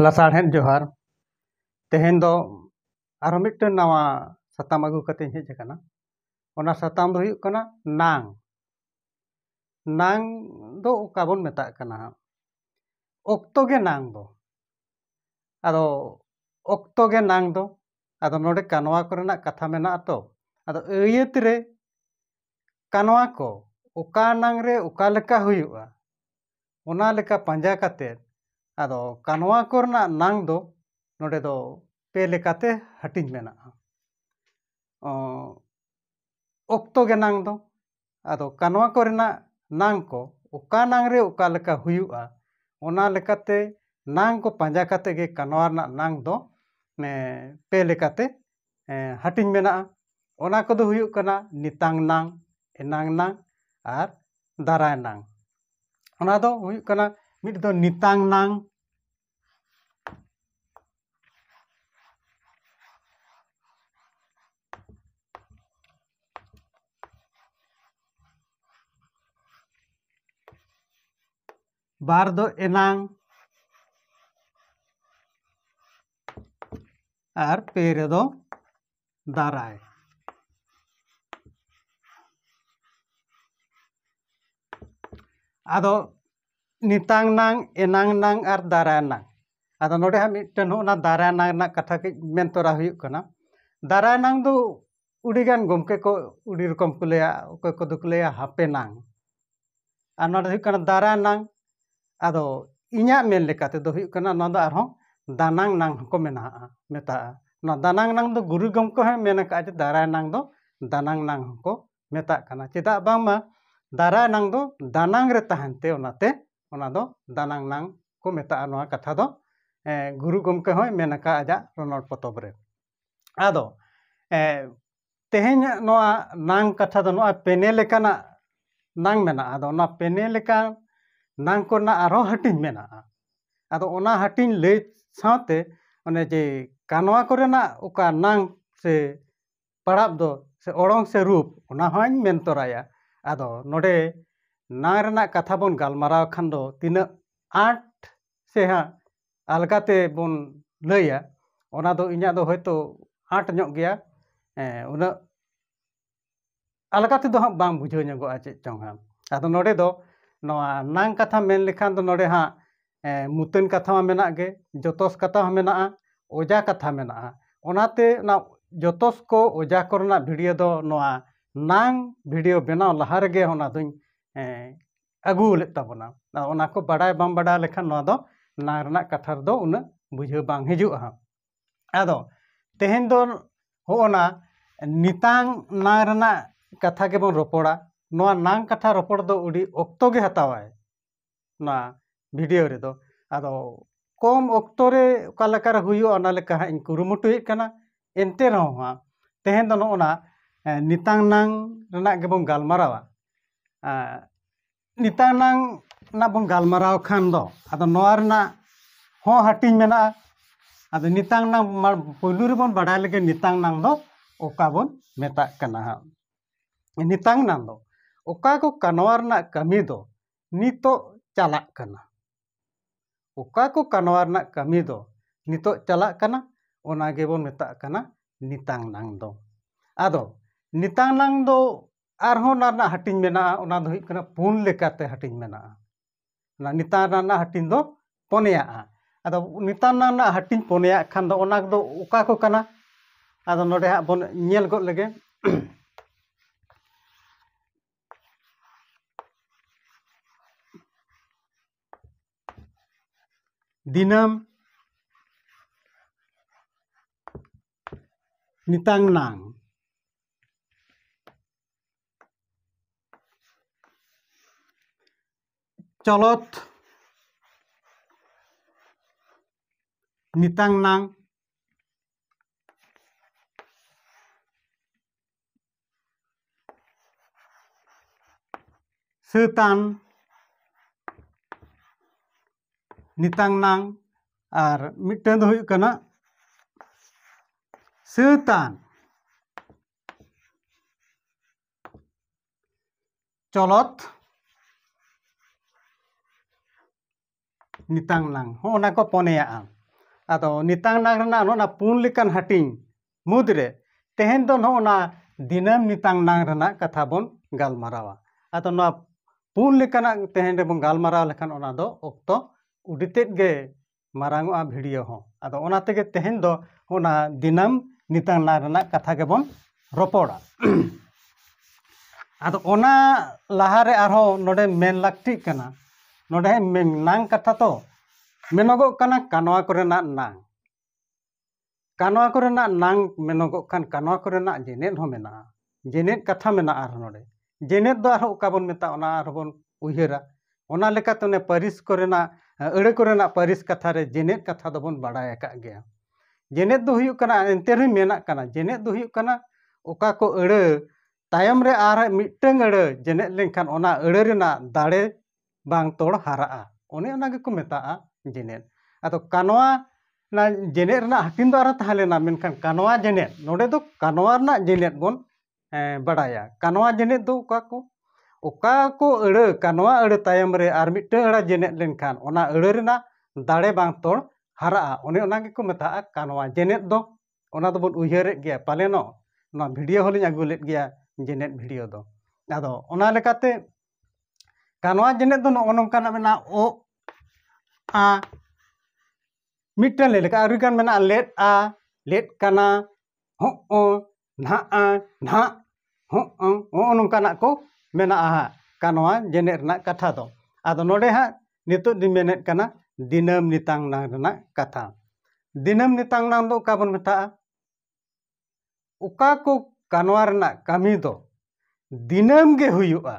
ᱞᱟᱥᱟᱲᱦᱮᱫ ᱡᱚᱦᱟᱨ ᱛᱮᱦᱮᱧ ᱫᱚ ᱟᱨᱚ ᱢᱤᱫᱴᱮᱱ ᱱᱟᱣᱟ ᱥᱟᱛᱟᱢ ᱟᱹᱜᱩ ᱠᱟᱛᱮᱧ ᱦᱮᱡ ᱟᱠᱟᱱᱟ ᱚᱱᱟ ᱥᱟᱛᱟᱢ ᱫᱚ ᱦᱩᱭᱩᱜ ᱠᱟᱱᱟ ᱱᱟᱝ ᱱᱟᱝ ᱫᱚ ᱚᱠᱟ ᱵᱚᱱ ᱢᱮᱛᱟᱜ ᱠᱟᱱᱟ ᱦᱟᱸᱜ ᱚᱠᱛᱚ ᱜᱮ ᱱᱟᱝ ᱫᱚ ᱟᱫᱚ ᱚᱠᱛᱚ ᱜᱮ ᱱᱟᱝ ᱫᱚ ᱟᱫᱚ ᱱᱚᱰᱮ ᱠᱟᱱᱣᱟ ᱠᱚᱨᱮᱱᱟᱜ ᱠᱟᱛᱷᱟ ᱢᱮᱱᱟᱜᱼᱟ ᱛᱚ ᱟᱫᱚ ᱟᱹᱭᱟᱹᱛ ᱨᱮ ᱠᱟᱱᱣᱟ ᱠᱚ ᱚᱠᱟ ᱱᱟᱝ ᱨᱮ ᱚᱠᱟ ᱞᱮᱠᱟ ᱦᱩᱭᱩᱜᱼᱟ ᱚᱱᱟ ᱞᱮᱠᱟ ᱯᱟᱸᱡᱟ ᱠᱟᱛᱮᱫ ᱟᱫᱚ ᱠᱟᱱᱣᱟ ᱠᱚᱨᱮᱱᱟᱜ ᱱᱟᱝ ᱫᱚ ᱱᱚᱰᱮ ᱫᱚ ᱯᱮ ᱞᱮᱠᱟᱛᱮ ᱦᱟᱹᱴᱤᱧ ᱢᱮᱱᱟᱜᱼᱟ ᱚᱠᱛᱚ ᱜᱮ ᱱᱟᱝ ᱫᱚ ᱟᱫᱚ ᱠᱟᱱᱣᱟ ᱠᱚᱨᱮᱱᱟᱜ ᱱᱟᱝ ᱠᱚ ᱚᱠᱟ ᱱᱟᱝ ᱨᱮ ᱚᱠᱟ ᱞᱮᱠᱟ ᱦᱩᱭᱩᱜᱼᱟ ᱚᱱᱟ ᱞᱮᱠᱟᱛᱮ ᱱᱟᱝ ᱠᱚ ᱯᱟᱸᱡᱟ ᱠᱟᱛᱮᱫ ᱜᱮ ᱠᱟᱱᱣᱟ ᱨᱮᱱᱟᱜ ᱱᱟᱝ ᱫᱚ ᱯᱮ ᱞᱮᱠᱟᱛᱮ ᱦᱟᱹᱴᱤᱧ ᱢᱮᱱᱟᱜᱼᱟ ᱚᱱᱟ ᱠᱚᱫᱚ ᱦᱩᱭᱩᱜ ᱠᱟᱱᱟ ᱱᱤᱛᱟᱝ ᱱᱟᱝ ᱮᱱᱟᱝ ᱱᱟᱝ ᱟᱨ ᱫᱟᱨᱟᱭ ᱱᱟᱝ ᱚᱱᱟ ᱫᱚ ᱦᱩᱭᱩᱜ ᱠᱟᱱᱟ ᱢᱤᱫ ᱫᱚ ᱱᱤᱛᱟᱝ ᱱᱟᱝ ᱵᱟᱨ ᱫᱚ ᱮᱱᱟᱝ ᱟᱨ ᱯᱮ ᱨᱮᱫᱚ ᱫᱟᱨᱟᱭ ᱟᱫᱚ ᱱᱤᱛᱟᱝ ᱱᱟᱝ ᱮᱱᱟᱝ ᱱᱟᱝ ᱟᱨ ᱫᱟᱨᱟᱭ ᱱᱟᱝ ᱟᱫᱚ ᱱᱚᱰᱮ ᱦᱟᱸᱜ ᱢᱤᱫᱴᱮᱱ ᱦᱚᱸ ᱚᱱᱟ ᱫᱟᱨᱟᱭ ᱱᱟᱝ ᱨᱮᱱᱟᱜ ᱠᱟᱛᱷᱟ ᱠᱟᱹᱡ ᱢᱮᱱ ᱛᱚᱨᱟ ᱦᱩᱭᱩᱜ ᱠᱟᱱᱟ ᱫᱟᱨᱟᱭ ᱱᱟᱝ ᱫᱚ ᱟᱹᱰᱤᱜᱟᱱ ᱜᱚᱢᱠᱮ ᱠᱚ ᱟᱹᱰᱤ ᱨᱚᱠᱚᱢ ᱠᱚ ᱞᱟᱹᱭᱟ ᱚᱠᱚᱭ ᱠᱚᱫᱚ ᱠᱚ ᱞᱟᱹᱭᱟ ᱦᱟᱯᱮᱱᱟᱝ ᱟᱨ ᱱᱚᱣᱟ ᱫᱚ ᱦᱩᱭᱩᱜ ᱠᱟᱱᱟ ᱫᱟᱨᱟᱭᱱᱟᱝ ᱟᱫᱚ ᱤᱧᱟᱹᱜ ᱢᱮᱱ ᱞᱮᱠᱟ ᱛᱮᱫᱚ ᱦᱩᱭᱩᱜ ᱠᱟᱱᱟ ᱱᱚᱣᱟ ᱫᱚ ᱟᱨᱦᱚᱸ ᱫᱟᱱᱟᱝ ᱱᱟᱝ ᱦᱚᱸᱠᱚ ᱢᱮᱱᱟᱜᱼᱟ ᱢᱮᱛᱟᱜᱼᱟ ᱱᱚᱣᱟ ᱫᱟᱱᱟᱝ ᱱᱟᱝ ᱫᱚ ᱜᱩᱨᱩ ᱜᱚᱢᱠᱮ ᱦᱚᱸᱭ ᱢᱮᱱ ᱟᱠᱟᱫᱼᱟ ᱡᱮ ᱫᱟᱨᱟᱭ ᱱᱟᱝ ᱫᱚ ᱫᱟᱱᱟᱝ ᱱᱟᱝ ᱦᱚᱸᱠᱚ ᱢᱮᱛᱟᱜ ᱠᱟᱱᱟ ᱪᱮᱫᱟᱜ ᱵᱟᱝᱢᱟ ᱫᱟᱨᱟᱭ ᱱᱟᱝ ᱫᱚ ᱫᱟᱱᱟᱝ ᱨᱮ ᱛᱟᱦᱮᱱ ᱛᱮ ᱚᱱᱟᱛᱮ ᱚᱱᱟ ᱫᱚ ᱫᱟᱱᱟᱝ ᱱᱟᱝ ᱠᱚ ᱢᱮᱛᱟᱜᱼᱟ ᱱᱚᱣᱟ ᱠᱟᱛᱷᱟ ᱫᱚ ᱜᱩᱨᱩ ᱜᱚᱢᱠᱮ ᱦᱚᱸᱭ ᱢᱮᱱ ᱟᱠᱟᱫᱼᱟ ᱟᱡᱟᱜ ᱨᱚᱱᱚᱲ ᱯᱚᱛᱚᱵ ᱨᱮ ᱟᱫᱚ ᱛᱮᱦᱮᱧᱟᱜ ᱱᱚᱣᱟ ᱱᱟᱝ ᱠᱟᱛᱷᱟ ᱫᱚ ᱱᱚᱣᱟ ᱯᱮᱱᱮ ᱞᱮᱠᱟᱱᱟᱜ ᱱᱟᱝ ᱢᱮᱱᱟᱜᱼᱟ ᱟᱫᱚ ᱚᱱᱟ ᱯᱮᱱᱮ ᱞᱮᱠᱟ ᱱᱟᱝ ᱠᱚᱨᱮᱱᱟᱜ ᱟᱨᱦᱚᱸ ᱦᱟᱹᱴᱤᱧ ᱢᱮᱱᱟᱜᱼᱟ ᱟᱫᱚ ᱚᱱᱟ ᱦᱟᱹᱴᱤᱧ ᱞᱟᱹᱭ ᱥᱟᱶᱛᱮ ᱚᱱᱮ ᱡᱮ ᱠᱟᱱᱣᱟ ᱠᱚᱨᱮᱱᱟᱜ ᱚᱠᱟ ᱱᱟᱝ ᱥᱮ ᱯᱟᱲᱟᱜ ᱫᱚ ᱥᱮ ᱚᱲᱚᱝ ᱥᱮ ᱨᱩᱯ ᱚᱱᱟ ᱦᱚᱸᱧ ᱢᱮᱱ ᱛᱚᱨᱟᱭᱟ ᱟᱫᱚ ᱱᱚᱰᱮ ᱱᱟᱝ ᱨᱮᱱᱟᱜ ᱠᱟᱛᱷᱟ ᱵᱚᱱ ᱜᱟᱞᱢᱟᱨᱟᱣ ᱠᱷᱟᱱ ᱫᱚ ᱛᱤᱱᱟᱹᱜ ᱟᱸᱴ ᱥᱮ ᱦᱟᱸᱜ ᱟᱞᱜᱟ ᱛᱮᱵᱚᱱ ᱞᱟᱹᱭᱟ ᱚᱱᱟ ᱫᱚ ᱤᱧᱟᱹᱜ ᱫᱚ ᱦᱳᱭᱛᱳ ᱟᱸᱴ ᱧᱚᱜ ᱜᱮᱭᱟ ᱦᱮᱸ ᱩᱱᱟᱹᱜ ᱟᱞᱜᱟ ᱛᱮᱫᱚ ᱦᱟᱸᱜ ᱵᱟᱝ ᱵᱩᱡᱷᱟᱹᱣ ᱧᱚᱜᱚᱜᱼᱟ ᱪᱮᱫ ᱪᱚᱝ ᱦᱟᱸᱜ ᱟᱫᱚ ᱱᱚᱰᱮ ᱫᱚ ᱱᱚᱣᱟ ᱱᱟᱝ ᱠᱟᱛᱷᱟ ᱢᱮᱱ ᱞᱮᱠᱷᱟᱱ ᱫᱚ ᱱᱚᱰᱮ ᱦᱟᱸᱜ ᱢᱩᱛᱟᱹᱱ ᱠᱟᱛᱷᱟ ᱢᱟ ᱢᱮᱱᱟᱜ ᱜᱮ ᱡᱚᱛᱚᱥ ᱠᱟᱛᱷᱟ ᱦᱚᱸ ᱢᱮᱱᱟᱜᱼᱟ ᱚᱡᱟ ᱠᱟᱛᱷᱟ ᱢᱮᱱᱟᱜᱼᱟ ᱚᱱᱟᱛᱮ ᱚᱱᱟ ᱡᱚᱛᱚᱥ ᱠᱚ ᱚᱡᱟ ᱠᱚᱨᱮᱱᱟᱜ ᱵᱷᱤᱰᱤᱭᱳ ᱫᱚ ᱱᱚᱣᱟ ᱱᱟᱝ ᱵᱷᱤᱰᱤᱭᱳ ᱵᱮᱱᱟᱣ ᱞᱟᱦᱟ ᱨᱮᱜᱮ ᱚᱱᱟ ᱫᱚᱧ ᱟᱹᱜᱩ ᱞᱮᱫ ᱛᱟᱵᱚᱱᱟ ᱚᱱᱟ ᱠᱚ ᱵᱟᱰᱟᱭ ᱵᱟᱢ ᱵᱟᱰᱟᱭ ᱞᱮᱠᱷᱟᱱ ᱱᱚᱣᱟ ᱫᱚ ᱱᱟᱝ ᱨᱮᱱᱟᱜ ᱠᱟᱛᱷᱟ ᱨᱮᱫᱚ ᱩᱱᱟᱹᱜ ᱵᱩᱡᱷᱟᱹᱣ ᱵᱟᱝ ᱦᱤᱡᱩᱜᱼᱟ ᱦᱟᱸᱜ ᱟᱫᱚ ᱛᱮᱦᱮᱧ ᱫᱚ ᱦᱚᱜᱼᱚ ᱱᱟ ᱱᱤᱛᱟᱝ ᱱᱟᱝ ᱨᱮᱱᱟᱜ ᱠᱟᱛᱷᱟ ᱜᱮᱵᱚᱱ ᱨᱚᱯᱚᱲᱟ ᱱᱚᱣᱟ ᱱᱟᱝ ᱠᱟᱛᱷᱟ ᱨᱚᱯᱚᱲ ᱫᱚ ᱟᱹᱰᱤ ᱚᱠᱛᱚ ᱜᱮ ᱦᱟᱛᱟᱣᱟᱭ ᱱᱚᱣᱟ ᱵᱷᱤᱰᱤᱭᱳ ᱨᱮᱫᱚ ᱟᱫᱚ ᱠᱚᱢ ᱚᱠᱛᱚ ᱨᱮ ᱚᱠᱟ ᱞᱮᱠᱟᱨᱮ ᱦᱩᱭᱩᱜᱼᱟ ᱚᱱᱟ ᱞᱮᱠᱟ ᱦᱟᱸᱜ ᱤᱧ ᱠᱩᱨᱩᱢᱩᱴᱩᱭᱮᱫ ᱠᱟᱱᱟ ᱮᱱᱛᱮ ᱨᱮᱦᱚᱸ ᱦᱟᱸᱜ ᱛᱮᱦᱮᱧ ᱫᱚ ᱱᱚᱜᱼᱚ ᱱᱟ ᱱᱤᱛᱟᱝ ᱱᱟᱝ ᱨᱮᱱᱟᱜ ᱜᱮᱵᱚᱱ ᱜᱟᱞᱢᱟᱨᱟᱣᱟ ᱱᱮᱛᱟᱨ ᱱᱟᱝ ᱨᱮᱱᱟᱜ ᱵᱚᱱ ᱜᱟᱞᱢᱟᱨᱟᱣ ᱠᱷᱟᱱ ᱫᱚ ᱟᱫᱚ ᱱᱚᱣᱟ ᱨᱮᱱᱟᱜ ᱦᱚᱸ ᱦᱟᱹᱴᱤᱧ ᱢᱮᱱᱟᱜᱼᱟ ᱟᱫᱚ ᱱᱮᱛᱟᱨ ᱱᱟᱝ ᱯᱳᱭᱞᱳ ᱨᱮᱵᱚᱱ ᱵᱟᱰᱟᱭ ᱞᱮᱜᱮ ᱱᱮᱛᱟᱨ ᱱᱟᱝ ᱫᱚ ᱚᱠᱟ ᱵᱚᱱ ᱢᱮᱛᱟᱜ ᱠᱟᱱᱟ ᱦᱟᱸᱜ ᱱᱮᱛᱟᱨ ᱱᱟᱝ ᱫᱚ ᱚᱠᱟ ᱠᱚ ᱠᱟᱱᱣᱟ ᱨᱮᱱᱟᱜ ᱠᱟᱹᱢᱤ ᱫᱚ ᱱᱤᱛᱚᱜ ᱪᱟᱞᱟᱜ ᱠᱟᱱᱟ ᱚᱠᱟ ᱠᱚ ᱠᱟᱱᱣᱟ ᱨᱮᱱᱟᱜ ᱠᱟᱹᱢᱤ ᱫᱚ ᱱᱤᱛᱚᱜ ᱪᱟᱞᱟᱜ ᱠᱟᱱᱟ ᱚᱱᱟ ᱜᱮᱵᱚᱱ ᱢᱮᱛᱟᱜ ᱠᱟᱱᱟ ᱱᱤᱛᱟᱝ ᱱᱟᱝ ᱫᱚ ᱟᱫᱚ ᱱᱤᱛᱟᱝ ᱱᱟᱝ ᱫᱚ ᱟᱨᱦᱚᱸ ᱚᱱᱟ ᱨᱮᱱᱟᱜ ᱦᱟᱹᱴᱤᱧ ᱢᱮᱱᱟᱜᱼᱟ ᱚᱱᱟ ᱫᱚ ᱦᱩᱭᱩᱜ ᱠᱟᱱᱟ ᱯᱩᱱ ᱞᱮᱠᱟᱛᱮ ᱦᱟᱹᱴᱤᱧ ᱢᱮᱱᱟᱜᱼᱟ ᱚᱱᱟ ᱱᱤᱛᱟᱝ ᱱᱟᱝ ᱨᱮᱱᱟᱜ ᱦᱟᱹᱴᱤᱧ ᱫᱚ ᱯᱚᱱᱭᱟᱜᱼᱟ ᱟᱫᱚ ᱱᱤᱛᱟᱝ ᱱᱟᱝ ᱨᱮᱱᱟᱜ ᱦᱟᱹᱴᱤᱧ ᱯᱚᱱᱭᱟᱜ ᱠᱷᱟᱱ ᱫᱚ ᱚᱱᱟ ᱫᱚ ᱚᱠᱟ ᱠᱚ ᱠᱟᱱᱟ ᱟᱫᱚ ᱱᱚᱰᱮ ᱦᱟᱸᱜ ᱵᱚᱱ ᱧᱮᱞ ᱜᱚᱫ ᱞᱮᱜᱮ ᱫᱤᱱᱟᱹᱢ ᱱᱤᱛᱟᱝ ᱱᱟᱝ ᱪᱚᱞᱚᱛ ᱱᱤᱛᱟᱝ ᱱᱟᱝ ᱥᱟᱹᱛᱟᱱ ᱱᱤᱛᱟᱝ ᱱᱟᱝ ᱟᱨ ᱢᱤᱫᱴᱟᱝ ᱫᱚ ᱦᱩᱭᱩᱜ ᱠᱟᱱᱟ ᱥᱟᱹᱛᱟᱱ ᱪᱚᱞᱚᱛ ᱱᱤᱛᱟᱝ ᱱᱟᱝ ᱦᱚᱸᱜᱼᱚ ᱱᱟ ᱠᱚ ᱯᱚᱱᱮᱭᱟᱜᱼᱟ ᱟᱫᱚ ᱱᱤᱛᱟᱝ ᱱᱟᱝ ᱨᱮᱱᱟᱜ ᱱᱚᱜᱼᱚ ᱱᱟ ᱯᱩᱱ ᱞᱮᱠᱟᱱ ᱦᱟᱹᱴᱤᱧ ᱢᱩᱫᱽ ᱨᱮ ᱛᱮᱦᱮᱧ ᱫᱚ ᱱᱚᱜᱼᱚ ᱱᱟ ᱫᱤᱱᱟᱹᱢ ᱱᱤᱛᱟᱝ ᱱᱟᱝ ᱨᱮᱱᱟᱜ ᱠᱟᱛᱷᱟ ᱵᱚᱱ ᱜᱟᱞᱢᱟᱨᱟᱣᱟ ᱟᱫᱚ ᱱᱚᱣᱟ ᱯᱩᱱ ᱞᱮᱠᱟᱱᱟᱜ ᱛᱮᱦᱮᱧ ᱨᱮᱵᱚᱱ ᱜᱟᱞᱢᱟᱨᱟᱣ ᱞᱮᱠᱷᱟᱱ ᱚᱱᱟ ᱫᱚ ᱚᱠᱛᱚ ᱩᱰᱤ ᱛᱮᱫ ᱜᱮ ᱢᱟᱨᱟᱝ ᱚᱜᱼᱟ ᱵᱷᱤᱰᱤᱭᱳ ᱦᱚᱸ ᱟᱫᱚ ᱚᱱᱟ ᱛᱮᱜᱮ ᱛᱮᱦᱮᱧ ᱫᱚ ᱚᱱᱟ ᱫᱤᱱᱟᱹᱢ ᱱᱤᱛᱟᱝ ᱱᱟᱝ ᱨᱮᱱᱟᱜ ᱠᱟᱛᱷᱟ ᱜᱮᱵᱚᱱ ᱨᱚᱯᱚᱲᱟ ᱟᱫᱚ ᱚᱱᱟ ᱞᱟᱦᱟᱨᱮ ᱟᱨᱦᱚᱸ ᱱᱚᱰᱮ ᱢᱮᱱ ᱞᱟᱹᱠᱛᱤᱜ ᱠᱟᱱᱟ ᱱᱚᱰᱮ ᱱᱟᱝ ᱠᱟᱛᱷᱟ ᱛᱚ ᱢᱮᱱᱚᱜᱚᱜ ᱠᱟᱱᱟ ᱠᱟᱱᱣᱟ ᱠᱚᱨᱮᱱᱟᱜ ᱱᱟᱝ ᱠᱟᱱᱣᱟ ᱠᱚᱨᱮᱱᱟᱜ ᱱᱟᱝ ᱢᱮᱱᱚᱜᱚᱜ ᱠᱟᱱ ᱠᱟᱱᱣᱟ ᱠᱚᱨᱮᱱᱟᱜ ᱡᱮᱱᱮᱫ ᱦᱚᱸ ᱢᱮᱱᱟᱜᱼᱟ ᱡᱮᱱᱮᱫ ᱠᱟᱛᱷᱟ ᱢᱮᱱᱟᱜᱼᱟ ᱟᱨᱦᱚᱸ ᱱᱚᱰᱮ ᱡᱮᱱᱮᱛ ᱫᱚ ᱟᱨᱦᱚᱸ ᱚᱠᱟ ᱵᱚᱱ ᱢᱮᱛᱟᱜᱼᱟ ᱚᱱᱟ ᱟᱨᱦᱚᱸ ᱵᱚᱱ ᱩᱭᱦᱟᱹᱨᱟ ᱚᱱᱟ ᱞᱮᱠᱟᱛᱮ ᱚᱱᱮ ᱯᱟᱹᱨᱤᱥ ᱠᱚᱨᱮᱱᱟᱜ ᱟᱹᱲᱟᱹ ᱠᱚᱨᱮᱱᱟᱜ ᱯᱟᱹᱨᱤᱥ ᱠᱟᱛᱷᱟ ᱨᱮ ᱡᱮᱱᱮᱛ ᱠᱟᱛᱷᱟ ᱫᱚᱵᱚᱱ ᱵᱟᱲᱟᱭ ᱟᱠᱟᱫ ᱜᱮᱭᱟ ᱡᱮᱱᱮᱛ ᱫᱚ ᱦᱩᱭᱩᱜ ᱠᱟᱱᱟ ᱮᱱᱛᱮ ᱨᱮᱦᱚᱸ ᱢᱮᱱᱟᱜ ᱠᱟᱱᱟ ᱡᱮᱱᱮᱛ ᱫᱚ ᱦᱩᱭᱩᱜ ᱠᱟᱱᱟ ᱚᱠᱟ ᱠᱚ ᱟᱹᱲᱟᱹ ᱛᱟᱭᱚᱢ ᱨᱮ ᱟᱨ ᱢᱤᱫᱴᱟᱹᱝ ᱟᱹᱲᱟᱹ ᱡᱮᱱᱮᱛ ᱞᱮᱱᱠᱷᱟᱱ ᱚᱱᱟ ᱟᱹᱲᱟᱹ ᱨᱮᱱᱟᱜ ᱫᱟᱲᱮ ᱵᱟᱝ ᱛᱚᱲ ᱦᱟᱨᱟᱜᱼᱟ ᱚᱱᱮ ᱚᱱᱟ ᱜᱮᱠᱚ ᱢᱮᱛᱟᱜᱼᱟ ᱡᱮᱱᱮᱛ ᱟᱫᱚ ᱠᱟᱱᱣᱟ ᱚᱱᱟ ᱡᱮᱱᱮᱛ ᱨᱮᱱᱟᱜ ᱦᱟᱹᱴᱤᱧ ᱫᱚ ᱟᱨᱦᱚᱸ ᱛᱟᱦᱮᱸ ᱞᱮᱱᱟ ᱢᱮᱱᱠᱷᱟᱱ ᱠᱟᱱᱣᱟ ᱡᱮᱱᱮᱛ ᱱᱚᱰᱮ ᱫᱚ ᱠᱟᱱᱣᱟ ᱨᱮᱱᱟᱜ ᱡᱮᱱᱮᱛ ᱵᱚᱱ ᱵᱟᱲᱟᱭᱟ ᱠᱟᱱᱣᱟ ᱡᱮᱱᱮᱛ ᱫᱚ ᱚᱠᱟ ᱠᱚ ᱚᱠᱟ ᱠᱚ ᱟᱹᱲᱟᱹ ᱠᱟᱱᱣᱟ ᱟᱹᱲᱟᱹ ᱛᱟᱭᱚᱢ ᱨᱮ ᱟᱨ ᱢᱤᱫᱴᱟᱹᱝ ᱟᱹᱲᱟᱹ ᱡᱮᱱᱮᱛ ᱞᱮᱱᱠᱷᱟᱱ ᱚᱱᱟ ᱟᱹᱲᱟᱹ ᱨᱮᱱᱟᱜ ᱫᱟᱲᱮ ᱵᱟᱝ ᱛᱚᱲ ᱦᱟᱨᱟᱜᱼᱟ ᱚᱱᱮ ᱚᱱᱟ ᱜᱮᱠᱚ ᱢᱮᱛᱟᱜᱼᱟ ᱠᱟᱱᱣᱟ ᱡᱮᱱᱮᱛ ᱫᱚ ᱚᱱᱟ ᱫᱚᱵᱚᱱ ᱩᱭᱦᱟᱹᱨᱮᱫ ᱜᱮᱭᱟ ᱯᱟᱞᱮᱱᱚᱜ ᱱᱚᱣᱟ ᱵᱷᱤᱰᱤᱭᱳ ᱦᱚᱸᱞᱤᱧ ᱟᱹᱜᱩ ᱞᱮᱫ ᱜᱮᱭᱟ ᱡᱮᱱᱮᱛ ᱵᱷᱤᱰᱤᱭᱳ ᱫᱚ ᱟᱫᱚ ᱚᱱᱟ ᱞᱮᱠᱟᱛᱮ ᱠᱟᱱᱣᱟ ᱡᱮᱱᱮᱛ ᱫᱚ ᱱᱚᱜᱼᱚ ᱱᱚᱝᱠᱟᱱᱟᱜ ᱢᱮᱱᱟᱜᱼᱟ ᱚ ᱟ ᱢᱤᱫᱴᱟᱹᱝ ᱞᱮ ᱞᱮᱠᱟ ᱟᱹᱰᱤᱜᱟᱱ ᱢᱮᱱᱟᱜᱼᱟ ᱞᱮᱫᱼᱟ ᱞᱮᱫ ᱠᱟᱱᱟ ᱦᱚᱸᱜᱼᱚ ᱱᱟᱦᱟᱜ ᱟᱨ ᱱᱟᱦᱟᱜ ᱦᱚᱸᱜᱼᱚ ᱱᱚᱝᱠᱟᱱᱟᱜ ᱠᱚ ᱢᱮᱱᱟᱜᱼᱟ ᱦᱟᱸᱜ ᱠᱟ ᱱᱚᱣᱟ ᱡᱮᱱᱮᱛ ᱨᱮᱱᱟᱜ ᱠᱟᱛᱷᱟ ᱫᱚ ᱟᱫᱚ ᱱᱚᱰᱮ ᱦᱟᱸᱜ ᱱᱤᱛᱳᱜ ᱫᱚᱧ ᱢᱮᱱᱮᱫ ᱠᱟᱱᱟ ᱫᱤᱱᱟᱹᱢ ᱱᱤᱛᱟᱝ ᱱᱟᱝ ᱨᱮᱱᱟᱜ ᱠᱟᱛᱷᱟ ᱫᱤᱱᱟᱹᱢ ᱱᱤᱛᱟᱝ ᱱᱟᱝ ᱫᱚ ᱚᱠᱟ ᱵᱚᱱ ᱢᱮᱛᱟᱜᱼᱟ ᱚᱠᱟ ᱠᱚ ᱠᱟᱱᱣᱟ ᱨᱮᱱᱟᱜ ᱠᱟᱹᱢᱤ ᱫᱚ ᱫᱤᱱᱟᱹᱢ ᱜᱮ ᱦᱩᱭᱩᱜᱼᱟ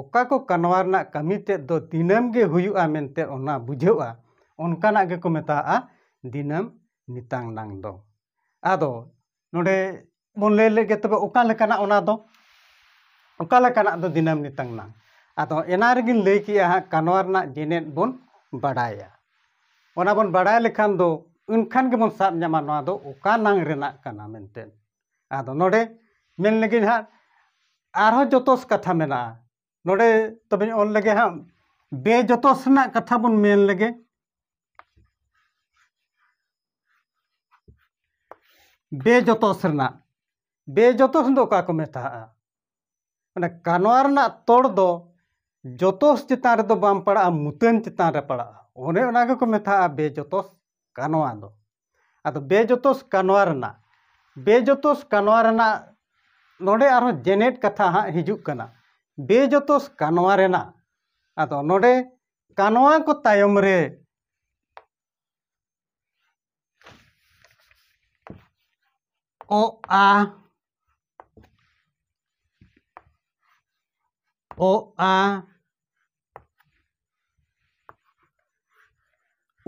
ᱚᱠᱟ ᱠᱚ ᱠᱟᱱᱣᱟ ᱨᱮᱱᱟᱜ ᱠᱟᱹᱢᱤ ᱛᱮᱫ ᱫᱚ ᱫᱤᱱᱟᱹᱢ ᱜᱮ ᱦᱩᱭᱩᱜᱼᱟ ᱢᱮᱱᱛᱮ ᱚᱱᱟ ᱵᱩᱡᱷᱟᱹᱜᱼᱟ ᱚᱱᱠᱟᱱᱟᱜ ᱜᱮᱠᱚ ᱢᱮᱛᱟᱜᱼᱟ ᱫᱤᱱᱟᱹᱢ ᱱᱤᱛᱟᱝ ᱱᱟᱝ ᱫᱚ ᱟᱫᱚ ᱱᱚᱰᱮ ᱵᱚᱱ ᱞᱟᱹᱭ ᱞᱮᱜᱮ ᱛᱚᱵᱮ ᱚᱠᱟ ᱞᱮᱠᱟᱱᱟᱜ ᱚᱱᱟ ᱫᱚ ᱚᱠᱟ ᱞᱮᱠᱟᱱᱟᱜ ᱫᱚ ᱫᱤᱱᱟᱹᱢ ᱱᱤᱛᱟᱝ ᱱᱟᱝ ᱟᱫᱚ ᱮᱱᱟ ᱨᱮᱜᱤᱧ ᱞᱟᱹᱭ ᱠᱮᱜᱼᱟ ᱦᱟᱸᱜ ᱠᱟᱱᱣᱟ ᱨᱮᱱᱟᱜ ᱡᱮᱱᱮᱫ ᱵᱚᱱ ᱵᱟᱰᱟᱭᱟ ᱚᱱᱟ ᱵᱚᱱ ᱵᱟᱰᱟᱭ ᱞᱮᱠᱷᱟᱱ ᱫᱚ ᱮᱱᱠᱷᱟᱱ ᱜᱮᱵᱚᱱ ᱥᱟᱵ ᱧᱟᱢᱟ ᱱᱚᱣᱟ ᱫᱚ ᱚᱠᱟ ᱱᱟᱝ ᱨᱮᱱᱟᱜ ᱠᱟᱱᱟ ᱢᱮᱱᱛᱮ ᱟᱫᱚ ᱱᱚᱰᱮ ᱢᱮᱱ ᱞᱮᱜᱮ ᱦᱟᱸᱜ ᱟᱨᱦᱚᱸ ᱡᱚᱛᱚᱥ ᱠᱟᱛᱷᱟ ᱢᱮᱱᱟᱜᱼᱟ ᱱᱚᱰᱮ ᱛᱚᱵᱮᱧ ᱚᱞ ᱞᱮᱜᱮ ᱦᱟᱸᱜ ᱵᱮᱡᱚᱛᱚᱥ ᱨᱮᱱᱟᱜ ᱠᱟᱛᱷᱟ ᱵᱚᱱ ᱢᱮᱱ ᱞᱮᱜᱮ ᱵᱮᱡᱚᱛᱚᱥ ᱨᱮᱱᱟᱜ ᱵᱮᱡᱚᱛᱚᱥ ᱫᱚ ᱚᱠᱟ ᱠᱚ ᱢᱮᱛᱟᱜᱼᱟ ᱚᱱᱟ ᱠᱟᱱᱣᱟ ᱨᱮᱱᱟᱜ ᱛᱚᱲ ᱫᱚ ᱡᱚᱛᱚᱥ ᱪᱮᱛᱟᱱ ᱨᱮᱫᱚ ᱵᱟᱝ ᱯᱟᱲᱟᱜᱼᱟ ᱢᱩᱛᱟᱹᱱ ᱪᱮᱛᱟᱱ ᱨᱮ ᱯᱟᱲᱟᱜᱼᱟ ᱚᱱᱮ ᱚᱱᱟ ᱜᱮᱠᱚ ᱢᱮᱛᱟᱜᱼᱟ ᱵᱮᱡᱚᱛᱚᱥ ᱠᱟᱱᱣᱟ ᱫᱚ ᱟᱫᱚ ᱵᱮᱡᱚᱛᱚᱥ ᱠᱟᱱᱣᱟ ᱨᱮᱱᱟᱜ ᱵᱮᱡᱚᱛᱚᱥ ᱠᱟᱱᱣᱟ ᱨᱮᱱᱟᱜ ᱱᱚᱰᱮ ᱟᱨᱦᱚᱸ ᱡᱮᱱᱮᱴ ᱠᱟᱛᱷᱟ ᱦᱟᱸᱜ ᱦᱤᱡᱩᱜ ᱠᱟᱱᱟ ᱵᱮᱡᱚᱛᱚᱥ ᱠᱟᱱᱣᱟ ᱨᱮᱱᱟᱜ ᱟᱫᱚ ᱱᱚᱰᱮ ᱠᱟᱱᱣᱟ ᱠᱚ ᱛᱟᱭᱚᱢ ᱨᱮ ᱚ ᱟ ᱚ ᱟ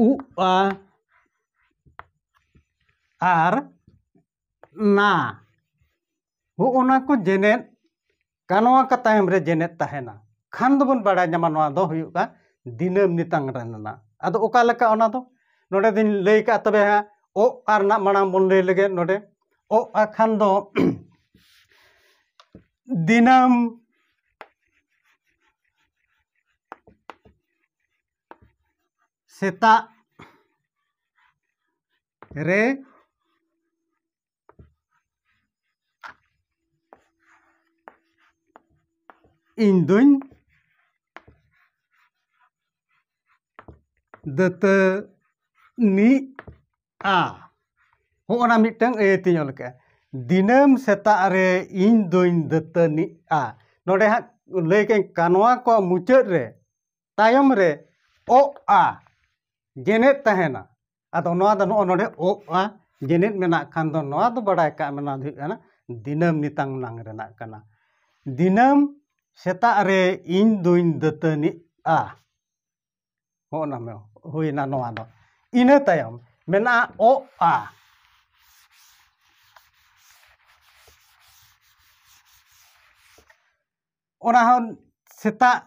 ᱩ ᱟ ᱟᱨ ᱱᱟ ᱦᱚᱜᱼᱚ ᱱᱟ ᱠᱚ ᱡᱮᱱᱮᱫ ᱠᱟᱱᱣᱟ ᱠᱟ ᱛᱟᱭᱚᱢ ᱨᱮ ᱡᱮᱱᱮᱫ ᱛᱟᱦᱮᱱᱟ ᱠᱷᱟᱱ ᱫᱚᱵᱚᱱ ᱵᱟᱲᱟᱭ ᱧᱟᱢᱟ ᱱᱚᱣᱟ ᱫᱚ ᱦᱩᱭᱩᱜ ᱠᱟᱱᱟ ᱫᱤᱱᱟᱹᱢ ᱱᱤᱛᱟᱝ ᱨᱮᱱᱟᱜ ᱟᱫᱚ ᱚᱠᱟ ᱞᱮᱠᱟ ᱚᱱᱟ ᱫᱚ ᱱᱚᱰᱮ ᱫᱚᱧ ᱞᱟᱹᱭ ᱠᱟᱜᱼᱟ ᱛᱚᱵᱮ ᱦᱟᱸᱜ ᱚ ᱟ ᱨᱮᱱᱟᱜ ᱢᱟᱲᱟᱝ ᱵᱚᱱ ᱞᱟᱹᱭ ᱞᱮᱜᱮ ᱱᱚᱰᱮ ᱚ ᱟ ᱠᱷᱟᱱ ᱫᱚ ᱫᱤᱱᱟᱹᱢ ᱥᱮᱛᱟᱜ ᱨᱮ ᱤᱧ ᱫᱩᱧ ᱫᱟᱹᱛᱟᱹᱱᱤᱜᱼᱟ ᱦᱚᱸᱜᱼᱚ ᱱᱟ ᱢᱤᱫᱴᱟᱹᱝ ᱟᱹᱭᱟᱹᱛ ᱤᱧ ᱚᱞ ᱠᱟᱜᱼᱟ ᱫᱤᱱᱟᱹᱢ ᱥᱮᱛᱟᱜ ᱨᱮ ᱤᱧ ᱫᱩᱧ ᱫᱟᱹᱛᱟᱹᱱᱤᱜᱼᱟ ᱱᱚᱰᱮ ᱦᱟᱸᱜ ᱞᱟᱹᱭ ᱠᱟᱜ ᱟᱹᱧ ᱠᱟᱱᱣᱟ ᱠᱚᱣᱟᱜ ᱢᱩᱪᱟᱹᱫ ᱨᱮ ᱛᱟᱭᱚᱢ ᱨᱮ ᱚᱜᱼᱟ ᱜᱮᱱᱮᱫ ᱛᱟᱦᱮᱱᱟ ᱟᱫᱚ ᱱᱚᱣᱟ ᱫᱚ ᱱᱚᱜᱼᱚ ᱱᱚᱰᱮ ᱚ ᱟ ᱡᱮᱱᱮᱫ ᱢᱮᱱᱟᱜ ᱠᱷᱟᱱ ᱫᱚ ᱱᱚᱣᱟ ᱫᱚ ᱵᱟᱲᱟᱭ ᱠᱟᱜ ᱢᱮ ᱱᱚᱣᱟ ᱫᱚ ᱦᱩᱭᱩᱜ ᱠᱟᱱᱟ ᱫᱤᱱᱟᱹᱢ ᱱᱤᱛᱟᱝ ᱱᱟᱝ ᱨᱮᱱᱟᱜ ᱠᱟᱱᱟ ᱫᱤᱱᱟᱹᱢ ᱥᱮᱛᱟᱜ ᱨᱮ ᱤᱧ ᱫᱩᱧ ᱫᱟᱹᱛᱟᱹᱱᱤᱜᱼᱟ ᱦᱚᱸᱜᱼᱚ ᱱᱟ ᱦᱩᱭᱱᱟ ᱱᱚᱣᱟ ᱫᱚ ᱤᱱᱟᱹ ᱛᱟᱭᱚᱢ ᱢᱮᱱᱟᱜᱼᱟ ᱚ ᱟ ᱚᱱᱟ ᱦᱚᱸ ᱥᱮᱛᱟᱜ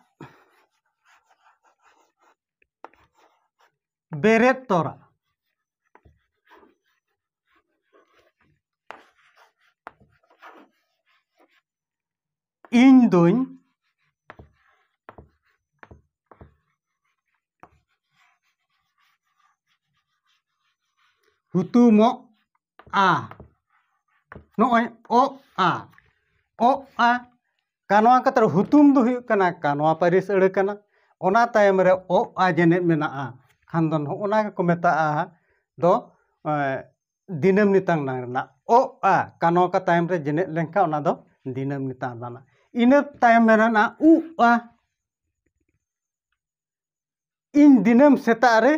ᱵᱮᱨᱮᱫ ᱛᱚᱨᱟ ᱤᱧ ᱫᱩᱧ ᱦᱩᱛᱩᱢᱚᱜ ᱟ ᱱᱚᱜᱼᱚᱭ ᱚ ᱟ ᱚ ᱟ ᱠᱟᱱᱣᱟ ᱠᱟᱛᱷᱟ ᱨᱮ ᱦᱩᱛᱩᱢ ᱫᱚ ᱦᱩᱭᱩᱜ ᱠᱟᱱᱟ ᱠᱟᱱᱣᱟ ᱯᱟᱹᱨᱤᱥ ᱟᱹᱲᱟᱹ ᱠᱟᱱᱟ ᱚᱱᱟ ᱛᱟᱭᱚᱢ ᱨᱮ ᱚ ᱟ ᱡᱮᱱᱮᱫ ᱢᱮᱱᱟᱜᱼᱟ ᱠᱷᱟᱱ ᱫᱚ ᱱᱚᱜᱼᱚ ᱱᱟ ᱜᱮᱠᱚ ᱢᱮᱛᱟᱜᱼᱟ ᱫᱚ ᱫᱤᱱᱟᱹᱢ ᱱᱤᱛᱟᱝ ᱱᱟᱝ ᱨᱮᱱᱟᱜ ᱚ ᱟ ᱠᱟᱱᱣᱟ ᱠᱟ ᱛᱟᱭᱚᱢ ᱨᱮ ᱡᱮᱱᱮᱫ ᱞᱮᱱᱠᱷᱟᱱ ᱚᱱᱟ ᱫᱚ ᱫᱤᱱᱟᱹᱢ ᱱᱤᱛᱟᱝ ᱨᱮᱱᱟᱜ ᱤᱱᱟᱹ ᱛᱟᱭᱚᱢ ᱨᱮᱱᱟᱜ ᱩ ᱟ ᱤᱧ ᱫᱤᱱᱟᱹᱢ ᱥᱮᱛᱟᱜ ᱨᱮ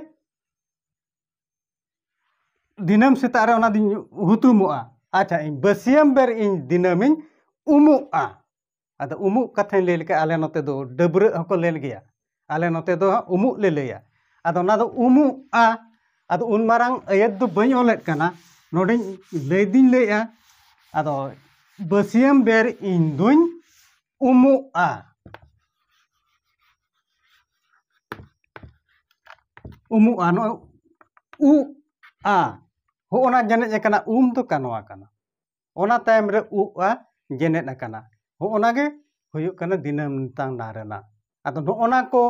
ᱫᱤᱱᱟᱹᱢ ᱥᱮᱛᱟᱜ ᱨᱮ ᱚᱱᱟ ᱫᱚᱧ ᱦᱩᱛᱩᱢᱚᱜᱼᱟ ᱟᱪᱪᱷᱟ ᱤᱧ ᱵᱟᱹᱥᱭᱟᱹᱢ ᱵᱮᱨ ᱤᱧ ᱫᱤᱱᱟᱹᱢᱤᱧ ᱩᱢᱩᱜᱼᱟ ᱟᱫᱚ ᱩᱢᱩᱜ ᱠᱟᱛᱷᱟᱧ ᱞᱟᱹᱭ ᱞᱮᱠᱷᱟᱱ ᱟᱞᱮ ᱱᱚᱛᱮ ᱫᱚ ᱰᱟᱹᱵᱽᱨᱟᱹᱜ ᱦᱚᱸᱠᱚ ᱞᱟᱹᱭ ᱜᱮᱭᱟ ᱟᱞᱮ ᱱᱚᱛᱮ ᱫᱚ ᱩᱢᱩᱜ ᱞᱮ ᱞᱟᱹᱭᱟ ᱟᱫᱚ ᱚᱱᱟ ᱫᱚ ᱩᱢᱩᱜᱼᱟ ᱟᱫᱚ ᱩᱱ ᱢᱟᱨᱟᱝ ᱟᱹᱭᱟᱹᱛ ᱫᱚ ᱵᱟᱹᱧ ᱚᱞᱮᱫ ᱠᱟᱱᱟ ᱱᱚᱰᱮᱧ ᱞᱟᱹᱭ ᱫᱩᱧ ᱞᱟᱹᱭᱮᱫᱼᱟ ᱟᱫᱚ ᱵᱟᱹᱥᱭᱟᱹᱢ ᱵᱮᱨ ᱤᱧ ᱫᱩᱧ ᱩᱢᱩᱜᱼᱟ ᱩᱢᱩᱜᱼᱟ ᱱᱚᱜᱼᱚᱭ ᱩᱜ ᱟ ᱦᱚᱜᱼᱚ ᱱᱟ ᱡᱮᱱᱮᱡ ᱟᱠᱟᱱᱟ ᱩᱢ ᱫᱚ ᱠᱟᱱᱣᱟ ᱠᱟᱱᱟ ᱚᱱᱟ ᱛᱟᱭᱚᱢ ᱨᱮ ᱩᱜ ᱟ ᱡᱮᱱᱮᱫ ᱟᱠᱟᱱᱟ ᱦᱚᱜᱼᱚ ᱱᱟ ᱜᱮ ᱦᱩᱭᱩᱜ ᱠᱟᱱᱟ ᱫᱤᱱᱟᱹᱢ ᱱᱤᱛᱟᱝ ᱱᱟ ᱨᱮᱱᱟᱜ ᱟᱫᱚ ᱱᱚᱜᱼᱚ ᱱᱟ ᱠᱚ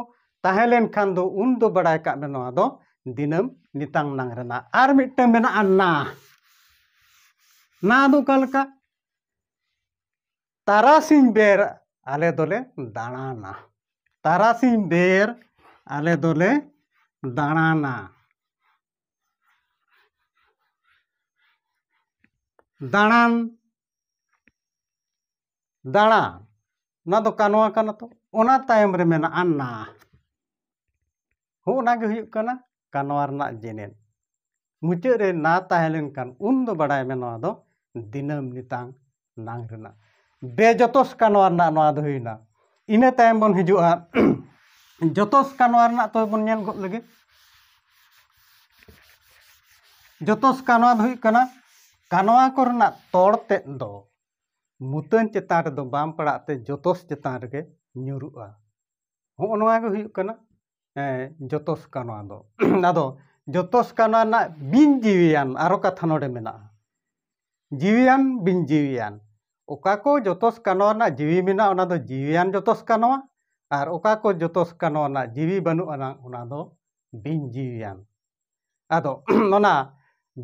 ᱛᱟᱦᱮᱸ ᱞᱮᱱᱠᱷᱟᱱ ᱫᱚ ᱩᱱ ᱫᱚ ᱵᱟᱲᱟᱭ ᱠᱟᱜ ᱢᱮ ᱱᱚᱣᱟ ᱫᱚ ᱫᱤᱱᱟᱹᱢ ᱱᱤᱛᱟᱝ ᱱᱟᱝ ᱨᱮᱱᱟᱜ ᱟᱨ ᱢᱤᱫᱴᱟᱝ ᱢᱮᱱᱟᱜᱼᱟ ᱱᱟ ᱱᱟ ᱫᱚ ᱚᱠᱟ ᱞᱮᱠᱟ ᱛᱟᱨᱟᱥᱤᱧ ᱵᱮᱨ ᱟᱞᱮ ᱫᱚᱞᱮ ᱫᱟᱬᱟᱱᱟ ᱛᱟᱨᱟᱥᱤᱧ ᱵᱮᱨ ᱟᱞᱮ ᱫᱚᱞᱮ ᱫᱟᱬᱟᱱᱟ ᱫᱟᱬᱟᱱ ᱫᱟᱬᱟ ᱱᱚᱣᱟ ᱫᱚ ᱠᱟᱱᱣᱟ ᱠᱟᱱᱟ ᱛᱚ ᱚᱱᱟ ᱛᱟᱭᱚᱢ ᱨᱮ ᱢᱮᱱᱟᱜᱼᱟ ᱱᱟ ᱦᱚᱸᱜᱼᱚ ᱱᱟ ᱜᱮ ᱦᱩᱭᱩᱜ ᱠᱟᱱᱟ ᱠᱟᱱᱣᱟ ᱨᱮᱱᱟᱜ ᱡᱮᱱᱮᱛ ᱢᱩᱪᱟᱹᱫ ᱨᱮ ᱱᱟ ᱛᱟᱦᱮᱸ ᱞᱮᱱᱠᱷᱟᱱ ᱩᱱ ᱫᱚ ᱵᱟᱲᱟᱭ ᱢᱮ ᱱᱚᱣᱟ ᱫᱚ ᱫᱤᱱᱟᱹᱢ ᱱᱤᱛᱟᱝ ᱱᱟᱝ ᱨᱮᱱᱟᱜ ᱵᱮᱡᱚᱛᱚᱥ ᱠᱟᱱᱣᱟ ᱨᱮᱱᱟᱜ ᱱᱚᱣᱟ ᱫᱚ ᱦᱩᱭᱱᱟ ᱤᱱᱟᱹ ᱛᱟᱭᱚᱢ ᱵᱚᱱ ᱦᱤᱡᱩᱜᱼᱟ ᱡᱚᱛᱚᱥ ᱠᱟᱱᱣᱟ ᱨᱮᱱᱟᱜ ᱛᱚᱵᱮ ᱵᱚᱱ ᱧᱮᱞ ᱜᱚᱫ ᱞᱮᱜᱮ ᱡᱚᱛᱚᱥ ᱠᱟᱱᱣᱟ ᱫᱚ ᱦᱩᱭᱩᱜ ᱠᱟᱱᱟ ᱠᱟᱱᱣᱟ ᱠᱚᱨᱮᱱᱟᱜ ᱛᱚᱲ ᱛᱮᱫ ᱫᱚ ᱢᱩᱛᱟᱹᱱ ᱪᱮᱛᱟᱱ ᱨᱮᱫᱚ ᱵᱟᱝ ᱯᱟᱲᱟᱜ ᱛᱮ ᱡᱚᱛᱚᱥ ᱪᱮᱛᱟᱱ ᱨᱮᱜᱮ ᱧᱩᱨᱩᱜᱼᱟ ᱦᱚᱜᱼᱚᱭ ᱱᱚᱣᱟ ᱜᱮ ᱦᱩᱭᱩᱜ ᱠᱟᱱᱟ ᱡᱚᱛᱚᱥ ᱠᱟᱱᱟ ᱫᱚ ᱟᱫᱚ ᱡᱚᱛᱚᱥ ᱠᱟᱱᱟ ᱨᱮᱱᱟᱜ ᱵᱤᱱ ᱡᱤᱣᱤᱭᱟᱱ ᱟᱨᱚ ᱠᱟᱛᱷᱟ ᱱᱚᱰᱮ ᱢᱮᱱᱟᱜᱼᱟ ᱡᱤᱣᱤᱭᱟᱱ ᱵᱤᱱ ᱡᱤᱣᱤᱭᱟᱱ ᱚᱠᱟ ᱠᱚ ᱡᱚᱛᱚᱥ ᱠᱟᱱᱟ ᱨᱮᱱᱟᱜ ᱡᱤᱣᱤ ᱢᱮᱱᱟᱜᱼᱟ ᱚᱱᱟ ᱫᱚ ᱡᱤᱣᱤᱭᱟᱱ ᱡᱚᱛᱚᱥ ᱠᱟᱱᱟ ᱟᱨ ᱚᱠᱟ ᱠᱚ ᱡᱚᱛᱚᱥ ᱠᱟᱱᱟ ᱨᱮᱱᱟᱜ ᱡᱤᱣᱤ ᱵᱟᱹᱱᱩᱜ ᱟᱱᱟᱝ ᱚᱱᱟ ᱫᱚ ᱵᱤᱱ ᱡᱤᱣᱤᱭᱟᱱ ᱟᱫᱚ ᱚᱱᱟ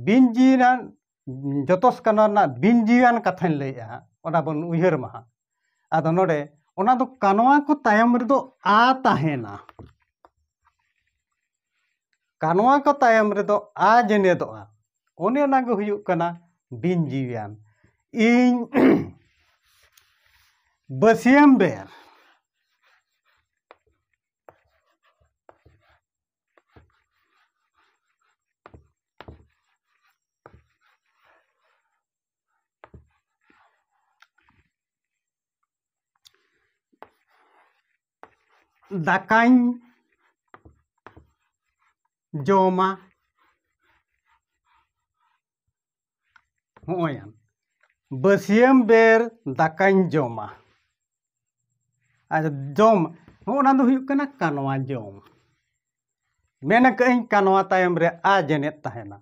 ᱵᱤᱱ ᱡᱤᱣᱤᱭᱟᱱ ᱡᱚᱛᱚ ᱥᱠᱟᱱᱟᱨ ᱨᱮᱱᱟᱜ ᱵᱤᱱ ᱡᱤᱣᱤᱭᱟᱱ ᱠᱟᱛᱷᱟᱧ ᱞᱟᱹᱭᱮᱫᱼᱟ ᱦᱟᱸᱜ ᱚᱱᱟ ᱵᱚᱱ ᱩᱭᱦᱟᱹᱨ ᱢᱟ ᱦᱟᱸᱜ ᱟᱫᱚ ᱱᱚᱰᱮ ᱚᱱᱟ ᱫᱚ ᱠᱟᱱᱣᱟ ᱠᱚ ᱛᱟᱭᱚᱢ ᱨᱮᱫᱚ ᱟ ᱛᱟᱦᱮᱱᱟ ᱠᱟᱱᱣᱟ ᱠᱚ ᱛᱟᱭᱚᱢ ᱨᱮᱫᱚ ᱟ ᱡᱮᱱᱮᱫᱚᱜᱼᱟ ᱚᱱᱮ ᱚᱱᱟᱜᱮ ᱦᱩᱭᱩᱜ ᱠᱟᱱᱟ ᱵᱤᱱ ᱡᱤᱣᱤᱭᱟᱱ ᱤᱧ ᱵᱟᱹᱥᱭᱟᱹᱢ ᱵᱮᱨ ᱫᱟᱠᱟᱧ ᱡᱚᱢᱟ ᱦᱚᱸᱜᱼᱚᱭ ᱵᱟᱹᱥᱭᱟᱹᱢ ᱵᱮᱨ ᱫᱟᱠᱟᱧ ᱡᱚᱢᱟ ᱟᱨ ᱡᱚᱢ ᱦᱚᱸᱜᱼᱚ ᱱᱟ ᱫᱚ ᱦᱩᱭᱩᱜ ᱠᱟᱱᱟ ᱠᱟᱱᱣᱟ ᱡᱚᱢ ᱢᱮᱱ ᱟᱠᱟᱫ ᱟᱹᱧ ᱠᱟᱱᱣᱟ ᱛᱟᱭᱚᱢ ᱨᱮ ᱟ ᱡᱮᱱᱮᱫ ᱛᱟᱦᱮᱱᱟ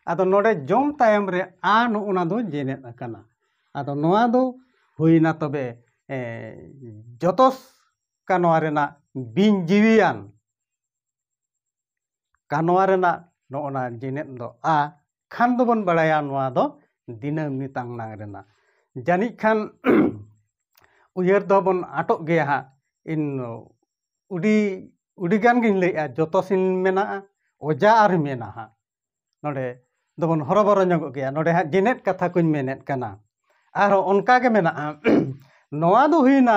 ᱟᱫᱚ ᱱᱚᱰᱮ ᱡᱚᱢ ᱛᱟᱭᱚᱢ ᱨᱮ ᱟ ᱱᱚᱜᱼᱚ ᱱᱟ ᱫᱚ ᱡᱮᱱᱮᱫ ᱟᱠᱟᱱᱟ ᱟᱫᱚ ᱱᱚᱣᱟ ᱫᱚ ᱦᱩᱭᱱᱟ ᱛᱚᱵᱮ ᱡᱚᱛᱚ ᱠᱟᱱᱣᱟ ᱨᱮᱱᱟᱜ ᱵᱤᱧ ᱡᱤᱣᱤᱭᱟᱱ ᱠᱟᱱᱣᱟ ᱨᱮᱱᱟᱜ ᱱᱚᱜᱼᱚ ᱱᱟ ᱡᱮᱱᱮᱫ ᱫᱚ ᱟ ᱠᱷᱟᱱ ᱫᱚᱵᱚᱱ ᱵᱟᱲᱟᱭᱟ ᱱᱚᱣᱟ ᱫᱚ ᱫᱤᱱᱟᱹᱢ ᱱᱤᱛᱟᱝ ᱱᱟᱝ ᱨᱮᱱᱟᱜ ᱡᱟᱹᱱᱤᱡ ᱠᱷᱟᱱ ᱩᱭᱦᱟᱹᱨ ᱫᱚᱵᱚᱱ ᱟᱴᱚᱜ ᱜᱮᱭᱟ ᱦᱟᱸᱜ ᱤᱱ ᱩᱰᱤ ᱩᱰᱤ ᱜᱟᱱ ᱜᱤᱧ ᱞᱟᱹᱭᱮᱜᱼᱟ ᱡᱚᱛᱚ ᱥᱤᱱ ᱢᱮᱱᱟᱜᱼᱟ ᱚᱡᱟ ᱟᱨ ᱢᱮᱱᱟ ᱦᱟᱸᱜ ᱱᱚᱰᱮ ᱫᱚᱵᱚᱱ ᱦᱚᱨᱚᱵᱚᱨᱚ ᱧᱚᱜᱚᱜ ᱜᱮᱭᱟ ᱱᱚᱰᱮ ᱦᱟᱸᱜ ᱡᱮᱱᱮᱫ ᱠᱟᱛᱷᱟ ᱠᱚᱧ ᱢᱮᱱᱮᱫ ᱠᱟᱱᱟ ᱟᱨᱦᱚᱸ ᱚᱱᱠᱟ ᱜᱮ ᱢᱮᱱᱟᱜᱼᱟ ᱱᱚᱣᱟ ᱫᱚ ᱦᱩᱭᱱᱟ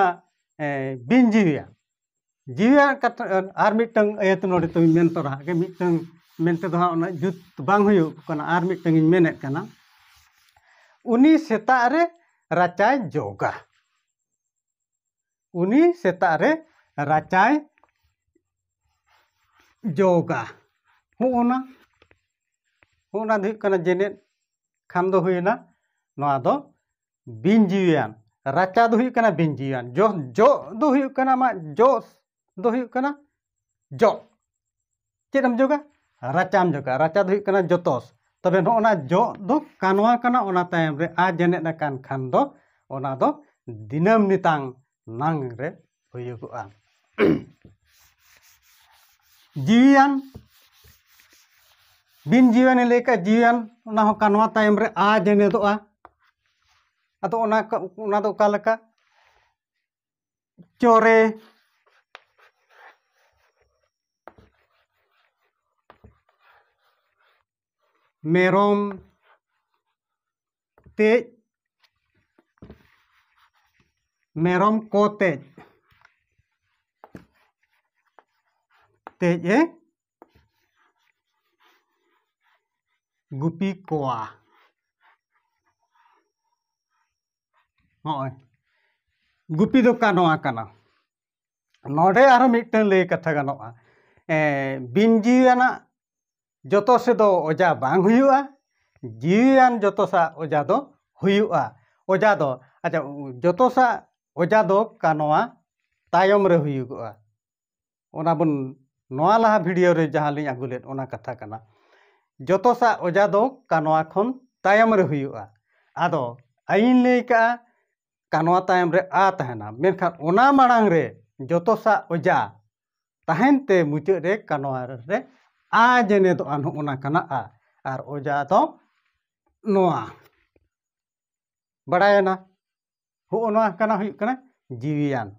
ᱵᱤᱧ ᱡᱤᱣᱤᱭᱟᱜ ᱡᱤᱣᱤᱭᱟᱜ ᱠᱟᱛᱷᱟ ᱟᱨ ᱢᱤᱫᱴᱟᱹᱝ ᱟᱹᱭᱟᱹᱛ ᱱᱚᱰᱮ ᱛᱚᱧ ᱢᱮᱱ ᱛᱚᱨᱟᱣᱟᱜ ᱜᱮ ᱢᱤᱫᱴᱟᱹᱝ ᱢᱮᱱ ᱛᱮᱫᱚ ᱦᱟᱸᱜ ᱩᱱᱟᱹᱜ ᱡᱩᱛ ᱵᱟᱝ ᱦᱩᱭᱩᱜ ᱠᱟᱱᱟ ᱟᱨ ᱢᱤᱫᱴᱟᱹᱝ ᱤᱧ ᱢᱮᱱᱮᱫ ᱠᱟᱱᱟ ᱩᱱᱤ ᱥᱮᱛᱟᱜ ᱨᱮ ᱨᱟᱪᱟᱭ ᱡᱚᱜᱟ ᱩᱱᱤ ᱥᱮᱛᱟᱜ ᱨᱮ ᱨᱟᱪᱟᱭ ᱡᱚᱜᱟ ᱦᱚᱸᱜᱼᱚᱱᱟ ᱦᱚᱸᱜᱼᱚᱱᱟ ᱫᱚ ᱦᱩᱭᱩᱜ ᱠᱟᱱᱟ ᱡᱮᱱᱮᱫ ᱠᱷᱟᱱ ᱫᱚ ᱦᱩᱭᱮᱱᱟ ᱱᱚᱣᱟ ᱫᱚ ᱵᱤᱱ ᱡᱤᱣᱤᱭᱟᱱ ᱨᱟᱪᱟ ᱫᱚ ᱦᱩᱭᱩᱜ ᱠᱟᱱᱟ ᱵᱤᱱ ᱡᱤᱣᱤᱭᱟᱱ ᱡᱚ ᱡᱚ ᱫᱚ ᱦᱩᱭᱩᱜ ᱠᱟᱱᱟ ᱟᱢᱟᱜ ᱡᱚ ᱫᱚ ᱦᱩᱭᱩᱜ ᱠᱟᱱᱟ ᱡᱚ ᱪᱮᱫ ᱮᱢ ᱡᱚᱜᱟ ᱨᱟᱪᱟᱢ ᱡᱚᱜᱟ ᱨᱟᱪᱟ ᱫᱚ ᱦᱩᱭᱩᱜ ᱠᱟᱱᱟ ᱡᱚᱛᱚᱥ ᱛᱚᱵᱮ ᱱᱚᱜᱼᱚ ᱱᱟ ᱡᱚ ᱫᱚ ᱠᱟᱱᱣᱟ ᱠᱟᱱᱟ ᱚᱱᱟ ᱛᱟᱭᱚᱢ ᱨᱮ ᱟ ᱡᱮᱱᱮᱫ ᱟᱠᱟᱱ ᱠᱷᱟᱱ ᱫᱚ ᱚᱱᱟ ᱫᱚ ᱫᱤᱱᱟᱹᱢ ᱱᱤᱛᱟᱝ ᱱᱟᱝ ᱨᱮ ᱦᱩᱭᱩᱜᱚᱜᱼᱟ ᱡᱤᱣᱤᱭᱟᱱ ᱵᱤᱱ ᱡᱤᱣᱤᱭᱟᱱᱮ ᱞᱟᱹᱭ ᱠᱟᱜ ᱡᱤᱣᱤᱭᱟᱱ ᱚᱱᱟ ᱦᱚᱸ ᱠᱟᱱᱣᱟ ᱛᱟᱭᱚᱢ ᱨᱮ ᱟ ᱡᱮᱱᱮᱫᱚᱜᱼᱟ ᱟᱫᱚ ᱚᱱᱟ ᱚᱱᱟ ᱫᱚ ᱚᱠᱟ ᱞᱮᱠᱟ ᱪᱚᱨᱮ ᱢᱮᱨᱚᱢ ᱛᱮᱡ ᱢᱮᱨᱚᱢ ᱠᱚ ᱛᱮᱡ ᱛᱮᱡᱼᱮ ᱜᱩᱯᱤ ᱠᱚᱣᱟ ᱦᱚᱸᱜᱼᱚᱭ ᱜᱩᱯᱤ ᱫᱚ ᱠᱟᱱᱣᱟ ᱠᱟᱱᱟ ᱱᱚᱰᱮ ᱟᱨᱦᱚᱸ ᱢᱤᱫᱴᱟᱹᱝ ᱞᱟᱹᱭ ᱠᱟᱛᱷᱟ ᱜᱟᱱᱚᱜᱼᱟ ᱵᱤᱱ ᱡᱤᱣᱤᱭᱟᱱᱟᱜ ᱡᱚᱛᱚ ᱥᱮᱫ ᱫᱚ ᱚᱡᱷᱟ ᱵᱟᱝ ᱦᱩᱭᱩᱜᱼᱟ ᱡᱤᱣᱤᱭᱟᱱ ᱡᱚᱛᱚ ᱥᱟᱜ ᱚᱡᱷᱟ ᱫᱚ ᱦᱩᱭᱩᱜᱼᱟ ᱚᱡᱷᱟ ᱫᱚ ᱟᱪᱪᱷᱟ ᱡᱚᱛᱚ ᱥᱟᱜ ᱚᱡᱷᱟ ᱫᱚ ᱠᱟᱱᱣᱟ ᱛᱟᱭᱚᱢ ᱨᱮ ᱦᱩᱭᱩᱜᱚᱜᱼᱟ ᱚᱱᱟ ᱵᱚᱱ ᱱᱚᱣᱟ ᱞᱟᱦᱟ ᱵᱷᱤᱰᱤᱭᱳ ᱨᱮ ᱡᱟᱦᱟᱸ ᱞᱤᱧ ᱟᱹᱜᱩ ᱞᱮᱫ ᱚᱱᱟ ᱠᱟᱛᱷᱟ ᱠᱟᱱᱟ ᱡᱚᱛᱚ ᱥᱟᱜ ᱚᱡᱷᱟ ᱫᱚ ᱠᱟᱱᱣᱟ ᱠᱷᱚᱱ ᱛᱟᱭᱚᱢ ᱨᱮ ᱦᱩᱭᱩᱜᱼᱟ ᱟᱫᱚ ᱟᱹᱭᱤᱱ ᱞᱟᱹᱭ ᱠᱟᱜᱼᱟ ᱠᱟ ᱱᱚᱣᱟ ᱛᱟᱭᱚᱢ ᱨᱮ ᱟ ᱛᱟᱦᱮᱱᱟ ᱢᱮᱱᱠᱷᱟᱱ ᱚᱱᱟ ᱢᱟᱲᱟᱝ ᱨᱮ ᱡᱚᱛᱚᱥᱟᱜ ᱚᱡᱟ ᱛᱟᱦᱮᱱ ᱛᱮ ᱢᱩᱪᱟᱹᱫ ᱨᱮ ᱠᱟ ᱱᱚᱣᱟ ᱨᱮ ᱟ ᱡᱮᱱᱮᱫᱚᱜᱼᱟ ᱱᱚᱜᱼᱚ ᱱᱟ ᱠᱟᱱᱟ ᱟ ᱟᱨ ᱚᱡᱟ ᱫᱚ ᱱᱚᱣᱟ ᱵᱟᱲᱟᱭᱮᱱᱟ ᱦᱚᱜᱼᱚ ᱱᱚᱣᱟ ᱠᱟᱱᱟ ᱦᱩᱭᱩᱜ ᱠᱟᱱᱟ ᱡᱤᱣᱤᱭᱟᱱ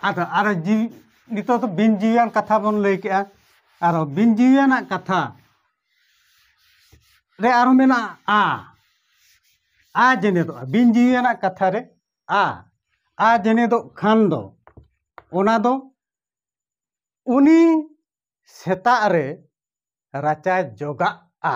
ᱟᱫᱚ ᱟᱨᱚ ᱡᱤᱣᱤ ᱱᱤᱛᱚᱜ ᱫᱚ ᱵᱤᱱ ᱡᱤᱣᱤᱭᱟᱱ ᱠᱟᱛᱷᱟ ᱵᱚᱱ ᱞᱟᱹᱭ ᱠᱮᱜᱼᱟ ᱟᱨᱚ ᱵᱤᱱ ᱡᱤᱣᱤᱭᱟᱱᱟᱜ ᱠᱟᱛᱷᱟ ᱨᱮ ᱟᱨᱚ ᱢᱮᱱᱟᱜᱼᱟ ᱟ ᱟ ᱡᱮᱱᱮᱫᱚᱜᱼᱟ ᱵᱤᱱ ᱡᱤᱣᱤᱭᱟᱱᱟᱜ ᱠᱟᱛᱷᱟ ᱨᱮ ᱟ ᱟ ᱡᱮᱱᱮᱫᱚᱜ ᱠᱷᱟᱱ ᱫᱚ ᱚᱱᱟ ᱫᱚ ᱩᱱᱤ ᱥᱮᱛᱟᱜ ᱨᱮ ᱨᱟᱪᱟᱭ ᱡᱚᱜᱟᱜᱼᱟ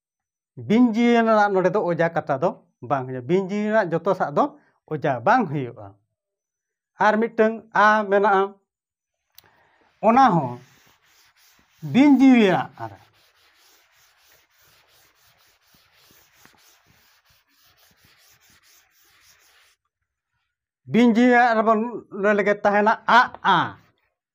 ᱵᱤᱧ ᱡᱤᱭᱟᱹᱞᱤ ᱨᱮᱱᱟᱜ ᱱᱚᱰᱮ ᱫᱚ ᱚᱡᱟ ᱠᱟᱛᱷᱟ ᱫᱚ ᱵᱟᱝ ᱦᱩᱭᱩᱜᱼᱟ ᱵᱤᱧ ᱡᱤᱭᱟᱹᱞᱤ ᱨᱮᱱᱟᱜ ᱡᱚᱛᱚ ᱥᱟᱜ ᱫᱚ ᱚᱡᱟ ᱵᱟᱝ ᱦᱩᱭᱩᱜᱼᱟ ᱟᱨ ᱢᱤᱫᱴᱟᱹᱝ ᱟ ᱢᱮᱱᱟᱜᱼᱟ ᱚᱱᱟ ᱦᱚᱸ ᱵᱤᱧ ᱡᱤᱭᱟᱹᱞᱤᱭᱟᱜ ᱟᱨ ᱵᱤᱧ ᱡᱤᱭᱟᱹᱞᱤᱭᱟᱜ ᱨᱮᱵᱚᱱ ᱞᱟᱹᱭ ᱞᱮᱜᱮ ᱛᱟᱦᱮᱱᱟ ᱟᱜᱼᱟ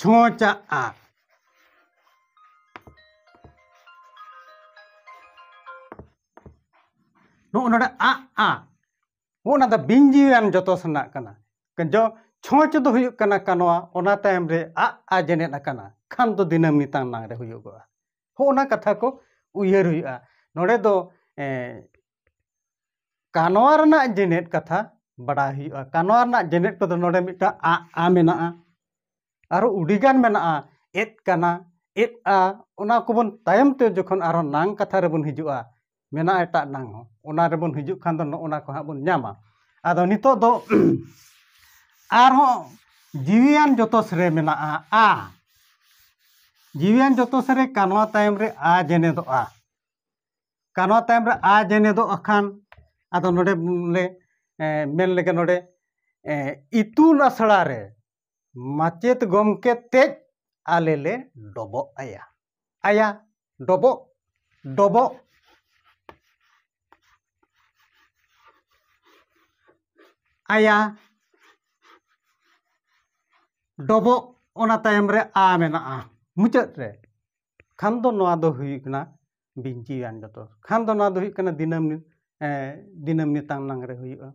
ᱪᱷᱚᱸᱪ ᱟᱜ ᱟᱜ ᱱᱚᱜᱼᱚ ᱱᱚᱰᱮ ᱟᱜ ᱟᱜ ᱱᱚᱜᱼᱚ ᱱᱟ ᱫᱚ ᱵᱤᱧᱡᱤᱣᱤᱭᱟᱱ ᱡᱚᱛᱚ ᱥᱮᱱᱟᱜ ᱠᱟᱱᱟ ᱡᱚ ᱪᱷᱚᱸᱪ ᱫᱚ ᱦᱩᱭᱩᱜ ᱠᱟᱱᱟ ᱠᱟᱱᱣᱟ ᱚᱱᱟ ᱛᱟᱭᱚᱢ ᱨᱮ ᱟᱜ ᱟ ᱡᱮᱱᱮᱫ ᱟᱠᱟᱱᱟ ᱠᱷᱟᱱ ᱫᱚ ᱫᱤᱱᱟᱹᱢ ᱱᱤᱛᱟᱝ ᱱᱟᱝ ᱨᱮ ᱦᱩᱭᱩᱜᱚᱜᱼᱟ ᱦᱚᱸᱜᱼᱚ ᱱᱟ ᱠᱟᱛᱷᱟ ᱠᱚ ᱩᱭᱦᱟᱹᱨ ᱦᱩᱭᱩᱜᱼᱟ ᱱᱚᱰᱮ ᱫᱚ ᱠᱟᱱᱣᱟ ᱨᱮᱱᱟᱜ ᱡᱮᱱᱮᱛ ᱠᱟᱛᱷᱟ ᱵᱟᱰᱟᱭ ᱦᱩᱭᱩᱜᱼᱟ ᱠᱟᱱᱣᱟ ᱨᱮᱱᱟᱜ ᱡᱮᱱᱮᱛ ᱠᱚᱫᱚ ᱱᱚᱰᱮ ᱢᱤᱫᱴᱟᱝ ᱟᱜ ᱟ ᱢᱮᱱᱟᱜᱼᱟ ᱟᱨᱚ ᱩᱰᱤᱜᱟᱱ ᱢᱮᱱᱟᱜᱼᱟ ᱮᱫ ᱠᱟᱱᱟ ᱮᱫ ᱟ ᱚᱱᱟ ᱠᱚᱵᱚᱱ ᱛᱟᱭᱚᱢ ᱛᱮ ᱡᱚᱠᱷᱚᱱ ᱟᱨᱚ ᱱᱟᱝ ᱠᱟᱛᱷᱟ ᱨᱮᱵᱚᱱ ᱦᱤᱡᱩᱜᱼᱟ ᱢᱮᱱᱟᱜᱼᱟ ᱮᱴᱟᱜ ᱱᱟᱝ ᱦᱚᱸ ᱚᱱᱟ ᱨᱮᱵᱚᱱ ᱦᱤᱡᱩᱜ ᱠᱷᱟᱱ ᱫᱚ ᱱᱚᱜᱼᱚ ᱱᱟ ᱠᱚ ᱦᱟᱸᱜ ᱵᱚᱱ ᱧᱟᱢᱟ ᱟᱫᱚ ᱱᱤᱛᱚᱜ ᱫᱚ ᱟᱨᱦᱚᱸ ᱡᱤᱣᱤᱭᱟᱱ ᱡᱚᱛᱚᱥ ᱨᱮ ᱢᱮᱱᱟᱜᱼᱟ ᱟ ᱡᱤᱣᱤᱭᱟᱱ ᱡᱚᱛᱚᱥ ᱨᱮ ᱠᱟᱱᱣᱟ ᱛᱟᱭᱚᱢ ᱨᱮ ᱟ ᱡᱮᱱᱮᱫᱚᱜᱼᱟ ᱠᱟᱱᱣᱟ ᱛᱟᱭᱚᱢ ᱨᱮ ᱟ ᱡᱮᱱᱮᱫᱚᱜ ᱟᱠᱟᱱ ᱟᱫᱚ ᱱᱚᱰᱮ ᱞᱮ ᱢᱮᱱ ᱞᱮᱜᱮ ᱱᱚᱰᱮ ᱤᱛᱩᱱ ᱟᱥᱲᱟ ᱨᱮ ᱢᱟᱪᱮᱫ ᱜᱚᱢᱠᱮ ᱛᱮᱡ ᱟᱞᱮ ᱞᱮ ᱰᱚᱵᱚᱜ ᱟᱭᱟ ᱟᱭᱟ ᱰᱚᱵᱚᱜ ᱰᱚᱵᱚᱜ ᱟᱭᱟ ᱰᱚᱵᱚᱜ ᱚᱱᱟ ᱛᱟᱭᱚᱢ ᱨᱮ ᱟ ᱢᱮᱱᱟᱜᱼᱟ ᱢᱩᱪᱟᱹᱫ ᱨᱮ ᱠᱷᱟᱱ ᱫᱚ ᱱᱚᱣᱟ ᱫᱚ ᱦᱩᱭᱩᱜ ᱠᱟᱱᱟ ᱵᱤᱱᱪᱤᱭᱟᱱ ᱡᱚᱛᱚ ᱠᱷᱟᱱ ᱫᱚ ᱱᱚᱣᱟ ᱫᱚ ᱦᱩᱭᱩᱜ ᱠᱟᱱᱟ ᱫᱤᱱᱟᱹᱢ ᱫᱤᱱᱟᱹᱢ ᱱᱤᱛᱟᱝ ᱱᱟᱝ ᱨᱮ ᱦᱩᱭᱩᱜᱼᱟ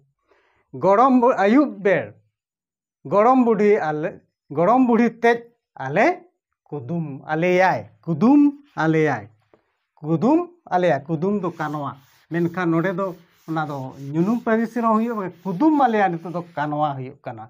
ᱜᱚᱲᱚᱢ ᱟᱹᱭᱩᱵ ᱵᱮᱲ ᱜᱚᱲᱚᱢ ᱵᱩᱰᱷᱤ ᱟᱞᱮ ᱜᱚᱲᱚᱢ ᱵᱩᱰᱷᱤ ᱛᱮᱡ ᱟᱞᱮ ᱠᱩᱫᱩᱢ ᱟᱞᱮᱭᱟᱭ ᱠᱩᱫᱩᱢ ᱟᱞᱮᱭᱟᱭ ᱠᱩᱫᱩᱢ ᱟᱞᱮᱭᱟᱭ ᱠᱩᱫᱩᱢ ᱫᱚ ᱠᱟᱱᱣᱟ ᱢᱮᱱᱠᱷᱟᱱ ᱱᱚᱰᱮ ᱫᱚ ᱚᱱᱟ ᱫᱚ ᱧᱩᱱᱩᱢ ᱯᱟᱹᱨᱤᱥ ᱨᱮᱦᱚᱸ ᱦᱩᱭᱩᱜᱼᱟ ᱠᱩᱫᱩᱢ ᱟᱞᱮᱭᱟᱭ ᱱᱤᱛᱚᱜ ᱫᱚ ᱠᱟᱱᱣᱟ ᱦᱩᱭᱩᱜ ᱠᱟᱱᱟ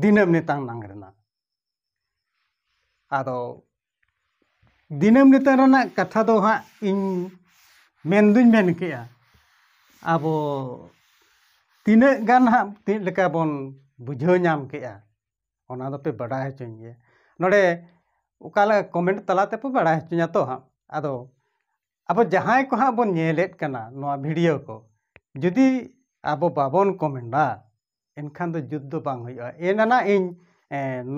ᱫᱤᱱᱟᱹᱢ ᱱᱮᱛᱟᱝ ᱱᱟᱝ ᱨᱮᱱᱟᱜ ᱟᱫᱚ ᱫᱤᱱᱟᱹᱢ ᱱᱮᱛᱟᱝ ᱨᱮᱱᱟᱜ ᱠᱟᱛᱷᱟ ᱫᱚ ᱦᱟᱸᱜ ᱤᱧ ᱢᱮᱱ ᱫᱩᱧ ᱢᱮᱱ ᱠᱮᱜᱼᱟ ᱟᱵᱚ ᱛᱤᱱᱟᱹᱜ ᱜᱟᱱ ᱦᱟᱸᱜ ᱪᱮᱫ ᱞᱮᱠᱟ ᱵᱚᱱ ᱵᱩᱡᱷᱟᱹᱣ ᱧᱟᱢ ᱠᱮᱜᱼᱟ ᱚᱱᱟ ᱫᱚᱯᱮ ᱵᱟᱰᱟᱭ ᱦᱚᱪᱚᱧ ᱜᱮᱭᱟ ᱱᱚᱰᱮ ᱚᱠᱟ ᱞᱮᱠᱟ ᱠᱚᱢᱮᱱᱴ ᱛᱟᱞᱟ ᱛᱮᱯᱮ ᱵᱟᱲᱟᱭ ᱦᱚᱪᱚᱧᱟ ᱛᱚ ᱦᱟᱸᱜ ᱟᱫᱚ ᱟᱵᱚ ᱡᱟᱦᱟᱸᱭ ᱠᱚ ᱦᱟᱸᱜ ᱵᱚᱱ ᱧᱮᱞᱮᱫ ᱠᱟᱱᱟ ᱱᱚᱣᱟ ᱵᱷᱤᱰᱤᱭᱳ ᱠᱚ ᱡᱩᱫᱤ ᱟᱵᱚ ᱵᱟᱵᱚᱱ ᱠᱚᱢᱮᱱᱴᱟ ᱮᱱᱠᱷᱟᱱ ᱫᱚ ᱡᱩᱛ ᱫᱚ ᱵᱟᱝ ᱦᱩᱭᱩᱜᱼᱟ ᱮᱱ ᱟᱱᱟᱜ ᱤᱧ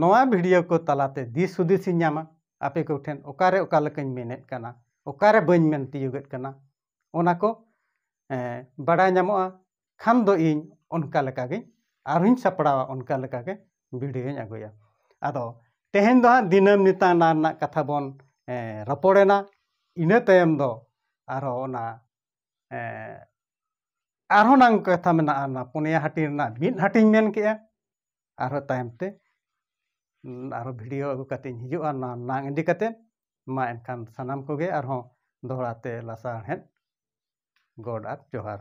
ᱱᱚᱣᱟ ᱵᱷᱤᱰᱤᱭᱳ ᱠᱚ ᱛᱟᱞᱟᱛᱮ ᱫᱤᱥ ᱦᱩᱫᱤᱥ ᱤᱧ ᱧᱟᱢᱟ ᱟᱯᱮ ᱠᱚᱴᱷᱮᱱ ᱚᱠᱟᱨᱮ ᱚᱠᱟ ᱞᱮᱠᱟᱧ ᱢᱮᱱᱮᱫ ᱠᱟᱱᱟ ᱚᱠᱟᱨᱮ ᱵᱟᱹᱧ ᱢᱮᱱ ᱛᱤᱭᱳᱜᱮᱫ ᱠᱟᱱᱟ ᱚᱱᱟ ᱠᱚ ᱵᱟᱰᱟᱭ ᱧᱟᱢᱚᱜᱼᱟ ᱠᱷᱟᱱ ᱫᱚ ᱤᱧ ᱚᱱᱠᱟ ᱞᱮᱠᱟᱜᱤᱧ ᱟᱨᱦᱚᱧ ᱥᱟᱯᱲᱟᱣᱟ ᱚᱱᱠᱟ ᱞᱮᱠᱟᱜᱮ ᱵᱷᱤᱰᱤᱭᱳᱧ ᱟᱹᱜᱩᱭᱟ ᱟᱫᱚ ᱛᱮᱦᱮᱧ ᱫᱚ ᱦᱟᱸᱜ ᱫᱤᱱᱟᱹᱢ ᱱᱮᱛᱟᱨ ᱨᱮᱱᱟᱜ ᱠᱟᱛᱷᱟ ᱵᱚᱱ ᱨᱚᱯᱚᱲᱮᱱᱟ ᱤᱱᱟᱹ ᱛᱟᱭᱚᱢ ᱫᱚ ᱟᱨᱦᱚᱸ ᱚᱱᱟ ᱟᱨᱦᱚᱸ ᱱᱟᱝ ᱠᱟᱛᱷᱟ ᱢᱮᱱᱟᱜᱼᱟ ᱚᱱᱟ ᱯᱚᱱᱭᱟ ᱦᱟᱹᱴᱤᱧ ᱨᱮᱱᱟᱜ ᱢᱤᱫ ᱦᱟᱹᱴᱤᱧ ᱢᱮᱱ ᱠᱮᱜᱼᱟ ᱟᱨᱦᱚᱸ ᱛᱟᱭᱚᱢ ᱛᱮ ᱟᱨᱦᱚᱸ ᱵᱷᱤᱰᱤᱭᱳ ᱟᱹᱜᱩ ᱠᱟᱛᱮᱧ ᱦᱤᱡᱩᱜᱼᱟ ᱚᱱᱟ ᱱᱟᱝ ᱤᱫᱤ ᱠᱟᱛᱮ ᱢᱟ ᱮᱱᱠᱷᱟᱱ ᱥᱟᱱᱟᱢ ᱠᱚᱜᱮ ᱟᱨᱦᱚᱸ ᱫᱚᱦᱲᱟ ᱛᱮ ᱞᱟᱥᱟᱬᱦᱮᱫ ᱜᱚᱰ ᱟᱨ ᱡᱚᱦᱟᱨ